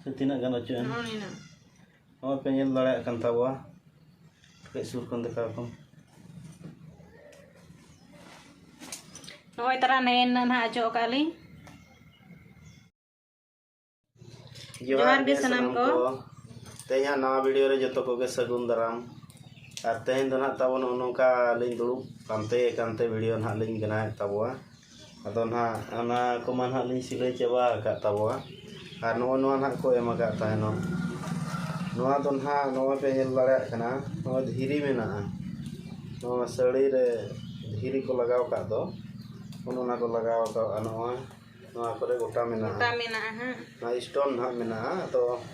ᱥᱮ ᱛᱤᱱᱟᱹᱜ ᱜᱟᱱ ᱚᱪᱚᱜ ᱮᱱ ᱱᱚᱜᱼᱚᱭ ᱯᱮ ᱧᱮᱞ ᱫᱟᱲᱮᱭᱟᱜ ᱠᱟᱱ ᱛᱟᱵᱚᱣᱟ ᱠᱟᱹᱡ ᱥᱩᱨ ᱠᱷᱚᱱ ᱫᱮᱠᱷᱟᱣ ᱠᱚᱢ ᱱᱚᱜᱼᱚᱭ ᱛᱟᱨᱟ ᱱᱮᱭᱮᱱ ᱱᱟᱜ ᱚᱪᱚᱜ ᱟᱠᱟᱫ ᱞᱤᱧ ᱡᱚᱦᱟᱨ ᱜᱮ ᱥᱟᱱᱟᱢ ᱠᱚ ᱛᱮᱦᱮᱧᱟᱜ ᱱᱟᱣᱟ ᱵᱷᱤᱰᱤᱭᱳ ᱨᱮ ᱡᱚᱛᱚ ᱠᱚᱜᱮ ᱥᱟᱹᱜᱩᱱ ᱫᱟᱨᱟᱢ ᱟᱨ ᱛᱮᱦᱮᱧ ᱫᱚ ᱱᱟᱜ ᱛᱟᱵᱚ ᱱᱚᱜᱼᱚ ᱱᱚᱝᱠᱟ ᱞᱤᱧ ᱫᱩᱲᱩᱵ ᱯᱟᱱᱛᱮ ᱠᱟᱱᱛᱮ ᱵᱷᱤᱰᱤᱭᱳ ᱱᱟᱜ ᱞᱤᱧ ᱵᱮᱱᱟᱣᱮᱫ ᱛᱟᱵᱚᱣᱟ ᱟᱫᱚ ᱱᱟᱦᱟᱜ ᱚᱱᱟ ᱠᱚᱢᱟ ᱱᱟᱦᱟᱜ ᱞᱤᱧ ᱥᱤᱞᱟᱹᱭ ᱪᱟᱵᱟ ᱟᱠᱟᱫ ᱛᱟᱵᱚᱣᱟ ᱟᱨ ᱱᱚᱜᱼᱚᱭ ᱱᱚᱣᱟ ᱱᱟᱦᱟᱜ ᱠᱚ ᱮᱢ ᱟᱠᱟᱫ ᱛᱟᱦᱮᱱᱚᱜ ᱱᱚᱣᱟ ᱫᱚ ᱱᱟᱦᱟᱜ ᱱᱚᱜᱼᱚᱭ ᱯᱮ ᱧᱮᱞ ᱫᱟᱲᱮᱭᱟᱜ ᱠᱟᱱᱟ ᱱᱚᱜᱼᱚᱭ ᱫᱷᱤᱨᱤ ᱢᱮᱱᱟᱜᱼᱟ ᱱᱚᱣᱟ ᱥᱟᱹᱲᱤ ᱨᱮ ᱫᱷᱤᱨᱤ ᱠᱚ ᱞᱟᱜᱟᱣ ᱟᱠᱟᱫ ᱫᱚ ᱚᱱᱮ ᱚᱱᱟ ᱠᱚ ᱞᱟᱜᱟᱣ ᱟᱠᱟᱫᱼᱟ ᱱᱚᱜᱼᱚᱭ ᱱᱚᱣᱟ ᱠᱚᱨᱮ ᱜᱚᱴᱟ ᱢᱮᱱᱟᱜᱼᱟ ᱜᱚᱴᱟ ᱢᱮᱱᱟᱜᱼᱟ ᱦᱟᱸᱜ ᱱᱚᱣᱟ ᱥᱴᱳᱱ ᱱᱟᱦᱟᱜ ᱢᱮᱱᱟᱜᱼᱟ ᱟᱫᱚ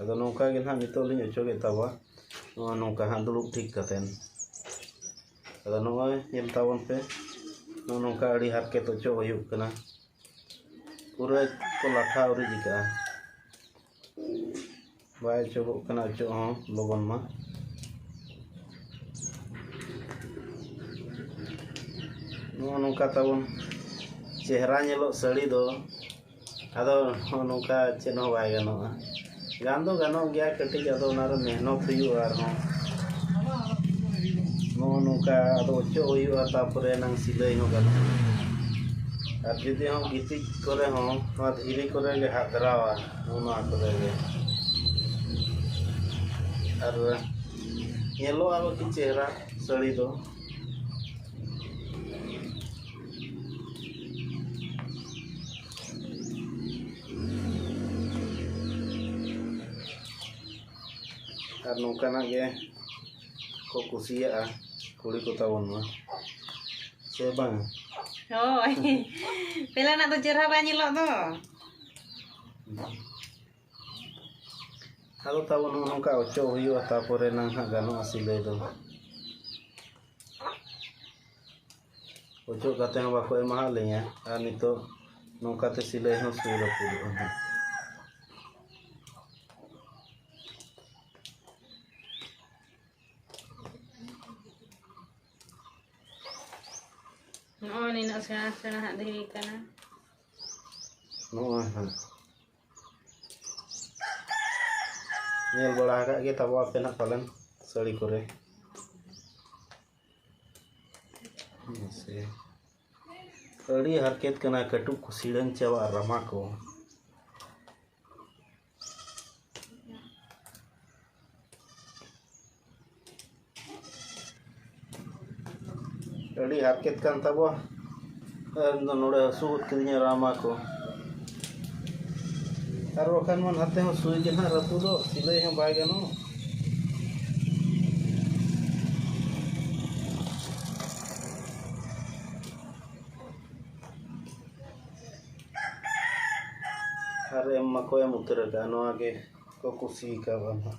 ᱟᱫᱚ ᱱᱚᱝᱠᱟ ᱜᱮ ᱱᱟᱦᱟᱜ ᱱᱤᱛᱚᱜ ᱞᱤᱧ ᱚᱪᱚᱜᱮᱫ ᱛᱟᱵᱚᱣᱟ ᱱᱚᱜᱼᱚᱭ ᱱᱚᱝᱠᱟ ᱦᱟᱸᱜ ᱫᱩᱲᱩᱵ ᱴᱷᱤᱠ ᱠᱟᱛᱮᱫ ᱟᱫᱚ ᱱᱚᱜᱼᱚᱭ ᱧᱮᱞ ᱛᱟᱵᱚᱱ ᱯᱮ ᱱᱚᱜᱼᱚ ᱱᱚᱝᱠᱟ ᱟᱹᱰᱤ ᱦᱟᱨᱠᱮᱛ ᱚᱪᱚᱜ ᱦᱩᱭᱩᱜ ᱠᱟᱱᱟ ᱯᱩᱨᱟᱹ ᱠᱚ ᱞᱟᱴᱷᱟ ᱟᱹᱣᱨᱤ ᱪᱤᱠᱟᱹᱜᱼᱟ ᱵᱟᱭ ᱚᱪᱚᱜᱚᱜ ᱠᱟᱱᱟ ᱚᱪᱚᱜ ᱦᱚᱸ ᱞᱚᱜᱚᱱ ᱢᱟ ᱱᱚᱜᱼᱚ ᱱᱚᱝᱠᱟ ᱛᱟᱵᱚᱱ ᱪᱮᱦᱨᱟ ᱧᱮᱞᱚᱜ ᱥᱟᱹᱲᱤ ᱫᱚ ᱟᱫᱚ ᱱᱚᱜᱼᱚ ᱱᱚᱝᱠᱟ ᱪᱮᱫ ᱦᱚᱸ ᱵᱟᱭ ᱜᱟᱱᱚᱜᱼᱟ ᱜᱟᱱ ᱫᱚ ᱜᱟᱱᱚᱜ ᱜᱮᱭᱟ ᱠᱟᱹᱴᱤᱡ ᱟᱫᱚ ᱚᱱᱟ ᱨᱮ ᱢᱮᱦᱱᱚᱛ ᱦᱩᱭᱩᱜᱼᱟ ᱟᱨᱦᱚᱸ ᱱᱚᱜᱼᱚ ᱱᱚᱝᱠᱟ ᱟᱫᱚ ᱚᱪᱚᱜ ᱦᱩᱭᱩᱜᱼᱟ ᱛᱟᱨᱯᱚᱨᱮ ᱮᱱᱟᱝ ᱥᱤᱞᱟᱹᱭ ᱦᱚᱸ ᱜᱟᱱᱚᱜᱼᱟ ᱟᱨ ᱡᱩᱫᱤ ᱦᱚᱸ ᱜᱤᱛᱤᱡ ᱠᱚᱨᱮ ᱦᱚᱸ ᱱᱚᱣᱟ ᱫᱷᱤᱨᱤ ᱠᱚᱨᱮ ᱜᱮ ᱦᱟᱫᱽᱨᱟᱣᱟ ᱱᱚᱜᱼᱚ ᱱᱚᱣᱟ ᱠᱚᱨᱮ ᱜᱮ ᱟᱨ ᱧᱮᱞᱚᱜᱼᱟ ᱟᱨᱚ ᱠᱤ ᱪᱮᱦᱨᱟ ᱥᱟᱹᱲᱤ ᱫᱚ ᱟᱨ ᱱᱚᱝᱠᱟᱱᱟᱜ ᱜᱮ ᱠᱚ ᱠᱩᱥᱤᱭᱟᱜᱼᱟ ᱠᱩᱲᱤ ᱠᱚ ᱛᱟᱵᱚᱱ ᱢᱟ ᱥᱮ ᱵᱟᱝ ᱦᱳᱭ ᱯᱮᱞᱟᱱᱟᱜ ᱫᱚ ᱪᱮᱦᱨᱟ ᱵᱟᱭ ᱧᱮᱞᱚᱜ ᱫᱚ ᱟᱫᱚ ᱛᱟᱵᱚᱱ ᱱᱚᱝᱠᱟ ᱚᱪᱚᱜ ᱦᱩᱭᱩᱜᱼᱟ ᱛᱟᱯᱚᱨᱮ ᱱᱟᱝ ᱦᱟᱸᱜ ᱜᱟᱱᱚᱜᱼᱟ ᱥᱤᱞᱟᱹᱭ ᱫᱚ ᱚᱡᱚᱜ ᱠᱟᱛᱮ ᱦᱚᱸ ᱵᱟᱠᱚ ᱮᱢᱟᱣᱟᱫ ᱞᱤᱧᱟᱹ ᱟᱨ ᱱᱤᱛᱚᱜ ᱱᱚᱝᱠᱟ ᱛᱮ ᱥᱤᱞᱟᱹᱭ ᱦᱚᱸ ᱥᱩᱭ ᱨᱟᱹᱯᱩᱫᱚᱜ ᱠᱟᱱᱟ ᱱᱚᱜᱼᱚᱭ ᱱᱤᱱᱟᱹᱜ ᱥᱮᱬᱟ ᱥᱮᱬᱟ ᱦᱟᱸᱜ ᱫᱷᱤᱨᱤ ᱠᱟᱱᱟ ᱱᱚᱜᱼᱚᱭ ᱦᱟᱸᱜ ᱧᱮᱞ ᱵᱟᱲᱟ ᱟᱠᱟᱫ ᱜᱮ ᱛᱟᱵᱚ ᱟᱯᱮ ᱱᱟᱜ ᱯᱟᱞᱮᱱ ᱥᱟᱹᱲᱤ ᱠᱚᱨᱮ ᱢᱟᱥᱮ ᱟᱹᱰᱤ ᱦᱟᱨᱠᱮᱛ ᱠᱟᱱᱟ ᱠᱟᱹᱴᱩᱵ ᱠᱚ ᱥᱤᱲᱟᱹᱝ ᱪᱟᱵᱟᱜᱼᱟ ᱨᱟᱢᱟ ᱠᱚ ᱟᱹᱰᱤ ᱦᱟᱨᱠᱮᱛ ᱠᱟᱱ ᱛᱟᱵᱚᱣᱟ ᱤᱧᱫᱚ ᱱᱚᱰᱮ ᱦᱟᱹᱥᱩ ᱜᱚᱫ ᱠᱤᱫᱤᱧᱟ ᱨᱟᱢᱟ ᱠᱚ ᱟᱨ ᱵᱟᱠᱷᱟᱱ ᱢᱟ ᱱᱟᱛᱮ ᱦᱚᱸ ᱥᱩᱭ ᱜᱮ ᱱᱟᱦᱟᱜ ᱨᱟᱹᱯᱩᱫᱚᱜ ᱥᱤᱞᱟᱹᱭ ᱦᱚᱸ ᱵᱟᱭ ᱜᱟᱱᱚᱜ ᱟᱨ ᱮᱢ ᱢᱟᱠᱚ ᱮᱢ ᱩᱛᱟᱹᱨ ᱟᱠᱟᱫᱼᱟ ᱱᱚᱣᱟ ᱜᱮ ᱠᱚ ᱠᱩᱥᱤ ᱟᱠᱟᱣᱟ ᱱᱟᱦᱟᱜ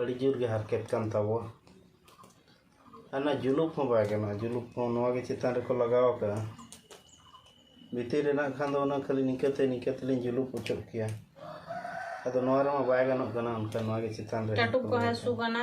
ᱟᱹᱰᱤ ᱡᱳᱨ ᱜᱮ ᱦᱟᱨᱠᱮᱛ ᱠᱟᱱ ᱛᱟᱵᱚᱣᱟ ᱟᱨ ᱱᱚᱣᱟ ᱡᱩᱞᱩᱯ ᱦᱚᱸ ᱵᱟᱭ ᱜᱟᱱᱚᱜᱼᱟ ᱡᱩᱞᱩᱯ ᱦᱚᱸ ᱱᱚᱣᱟ ᱜᱮ ᱪᱮᱛᱟᱱ ᱨᱮᱠᱚ ᱞᱟᱜᱟᱣ ᱟᱠᱟᱫᱼᱟ ᱵᱷᱤᱛᱤᱨ ᱨᱮᱱᱟᱜ ᱠᱷᱟᱱ ᱫᱚ ᱚᱱᱟ ᱠᱷᱟᱹᱞᱤ ᱱᱤᱝᱠᱟᱹ ᱛᱮ ᱱᱤᱝᱠᱟᱹ ᱛᱮᱞᱤᱧ ᱡᱩᱞᱩᱯ ᱚᱪᱚᱜ ᱠᱮᱭᱟ ᱟᱫᱚ ᱱᱚᱣᱟ ᱨᱮᱢᱟ ᱵᱟᱭ ᱜᱟᱱᱚᱜ ᱠᱟᱱᱟ ᱚᱱᱠᱟ ᱱᱚᱣᱟ ᱜᱮ ᱪᱮᱛᱟᱱ ᱨᱮ ᱠᱟᱹᱴᱩᱵ ᱠᱚ ᱦᱟᱹᱥᱩ ᱠᱟᱱᱟ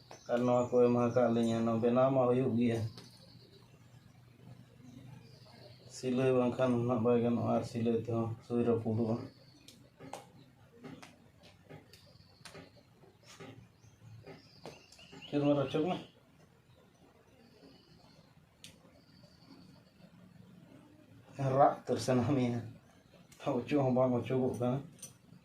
ᱟᱨ ᱱᱚᱣᱟ ᱠᱚ ᱮᱢᱟ ᱟᱠᱟᱫ ᱞᱤᱧᱟᱹ ᱱᱚᱣᱟ ᱵᱮᱱᱟᱣ ᱢᱟ ᱦᱩᱭᱩᱜ ᱜᱮᱭᱟ ᱥᱤᱞᱟᱹᱭ ᱵᱟᱝᱠᱷᱟᱱ ᱱᱟᱜ ᱵᱟᱭ ᱜᱟᱱᱚᱜᱼᱟ ᱟᱨ ᱥᱤᱞᱟᱹᱭ ᱛᱮᱦᱚᱸ ᱥᱩᱭ ᱨᱟᱹᱯᱩᱫᱚᱜᱼᱟ ᱪᱮᱫ ᱢᱟ ᱨᱚᱪᱚᱠ ᱢᱮ ᱨᱟᱜ ᱩᱛᱟᱹᱨ ᱥᱟᱱᱟ ᱢᱮᱭᱟ ᱚᱪᱚᱜ ᱦᱚᱸ ᱵᱟᱝ ᱚᱪᱚᱜᱚᱜ ᱠᱟᱱᱟ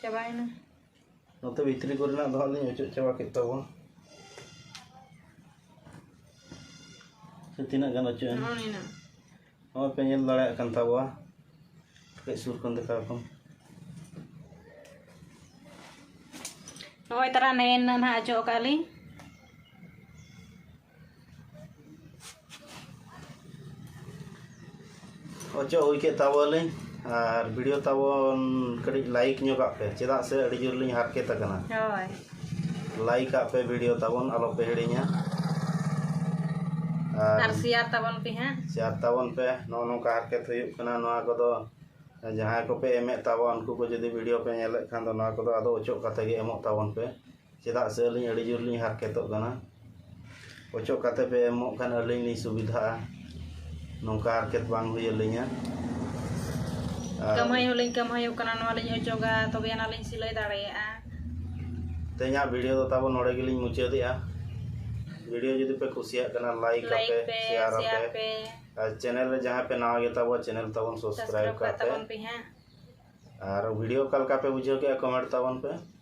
ᱪᱟᱵᱟᱭᱮᱱᱟ ᱱᱚᱛᱮ ᱵᱷᱤᱛᱨᱤ ᱠᱚᱨᱮᱱᱟᱜ ᱫᱚ ᱦᱟᱸᱜ ᱞᱤᱧ ᱚᱪᱚᱜ ᱪᱟᱵᱟ ᱠᱮᱫ ᱛᱟᱵᱚᱱ ᱥᱮ ᱛᱤᱱᱟᱹᱜ ᱜᱟᱱ ᱚᱪᱚᱜ ᱮᱱᱟ ᱱᱚᱜᱼᱚᱭ ᱯᱮ ᱧᱮᱞ ᱫᱟᱲᱮᱭᱟᱜ ᱠᱟᱱ ᱛᱟᱵᱚᱣᱟ ᱠᱟᱹᱡ ᱥᱩᱨ ᱠᱷᱚᱱ ᱫᱮᱠᱷᱟᱣ ᱠᱚᱢ ᱱᱚᱜᱼᱚᱭ ᱛᱟᱨᱟ ᱱᱮᱱ ᱱᱟᱦᱟᱜ ᱚᱪᱚᱜ ᱟᱠᱟᱫ ᱞᱤᱧ ᱚᱪᱚᱜ ᱦᱩᱭ ᱠᱮᱫ ᱛᱟᱵᱚᱱᱟᱞᱤᱧ ᱟᱨ ᱵᱷᱤᱰᱤᱭᱳ ᱛᱟᱵᱚᱱ ᱠᱟᱹᱴᱤᱡ ᱞᱟᱭᱤᱠ ᱧᱚᱜᱟᱜ ᱯᱮ ᱪᱮᱫᱟᱜ ᱥᱮ ᱟᱹᱰᱤ ᱡᱳᱨ ᱞᱤᱧ ᱦᱟᱨᱠᱮᱛ ᱟᱠᱟᱱᱟ ᱦᱳᱭ ᱞᱟᱭᱤᱠ ᱟᱜ ᱯᱮ ᱵᱷᱤᱰᱤᱭᱳ ᱛᱟᱵᱚᱱ ᱟᱞᱚ ᱯᱮ ᱦᱤᱲᱤᱧᱟ ᱟᱨ ᱥᱮᱭᱟᱨ ᱛᱟᱵᱚᱱ ᱯᱮ ᱦᱟᱸᱜ ᱥᱮᱭᱟᱨ ᱛᱟᱵᱚᱱ ᱯᱮ ᱱᱚᱜᱼᱚ ᱱᱚᱝᱠᱟ ᱦᱟᱨᱠᱮᱛ ᱦᱩᱭᱩᱜ ᱠᱟᱱᱟ ᱱᱚᱣᱟ ᱠᱚᱫᱚ ᱡᱟᱦᱟᱸᱭ ᱠᱚᱯᱮ ᱮᱢᱮᱫ ᱛᱟᱵᱚᱱ ᱩᱱᱠᱩ ᱠᱚ ᱡᱩᱫᱤ ᱵᱷᱤᱰᱤᱭᱳ ᱯᱮ ᱧᱮᱞᱮᱫ ᱠᱷᱟᱱ ᱫᱚ ᱱᱚᱣᱟ ᱠᱚᱫᱚ ᱟᱫᱚ ᱚᱪᱚᱜ ᱠᱟᱛᱮ ᱜᱮ ᱮᱢᱚᱜ ᱛᱟᱵᱚᱱ ᱯᱮ ᱪᱮᱫᱟᱜ ᱥᱮ ᱟᱹᱞᱤᱧ ᱟᱹᱰᱤ ᱡᱳᱨ ᱞᱤᱧ ᱦᱟᱨᱠᱮᱛᱚᱜ ᱠᱟᱱᱟ ᱚᱪᱚᱜ ᱠᱟᱛᱮ ᱯᱮ ᱮᱢᱚᱜ ᱠᱷᱟᱱ ᱟᱹᱞᱤᱧ ᱞᱤᱧ ᱥᱩᱵᱤᱫᱷᱟᱜᱼᱟ ᱱᱚᱝᱠᱟ ᱦᱟᱨᱠᱮᱛ ᱵᱟᱝ ᱦᱩᱭ ᱟᱹᱞᱤᱧᱟ ᱠᱟᱹᱢᱦᱟᱹᱭ ᱦᱚᱸᱞᱤᱧ ᱠᱟᱹᱢᱦᱟᱹᱭᱚᱜ ᱠᱟᱱᱟ ᱱᱚᱣᱟ ᱞᱤᱧ ᱚᱪᱚᱜᱟ ᱛᱚᱵᱮ ᱟᱱᱟᱜ ᱞᱤᱧ ᱥᱤᱞᱟᱹᱭ ᱫᱟᱲᱮᱭᱟᱜᱼᱟ ᱛᱮᱦᱮᱧᱟᱜ ᱵᱷᱤᱰᱤᱭᱳ ᱫᱚ ᱛᱟᱵᱚ ᱱᱚᱰᱮ ᱜᱮᱞᱤᱧ ᱢᱩᱪᱟᱹᱫᱮᱜᱼᱟ ᱵᱷᱤᱰᱤᱭᱳ ᱡᱩᱫᱤ ᱯᱮ ᱠᱩᱥᱤᱭᱟᱜ ᱠᱟᱱᱟ ᱞᱟᱭᱤᱠ ᱟᱯᱮ ᱥᱮᱭᱟᱨ ᱟᱯᱮ ᱟᱨ ᱪᱮᱱᱮᱞ ᱨᱮ ᱡᱟᱦᱟᱸ ᱯᱮ ᱱᱟᱣᱟ ᱜᱮᱛᱟ ᱵᱚ ᱪᱮᱱᱮᱞ ᱛᱟᱵᱚᱱ ᱥᱟᱵᱥᱠᱨᱟᱭᱤᱵ ᱠᱟᱜ ᱯᱮ ᱟᱨ ᱵᱷᱤᱰᱤᱭᱳ ᱚᱠᱟ ᱞᱮᱠᱟ ᱯᱮ ᱵᱩᱡᱷᱟᱹᱣ ᱠᱮᱜᱼᱟ ᱠᱚᱢᱮᱱᱴ ᱛᱟᱵᱚᱱ ᱯᱮ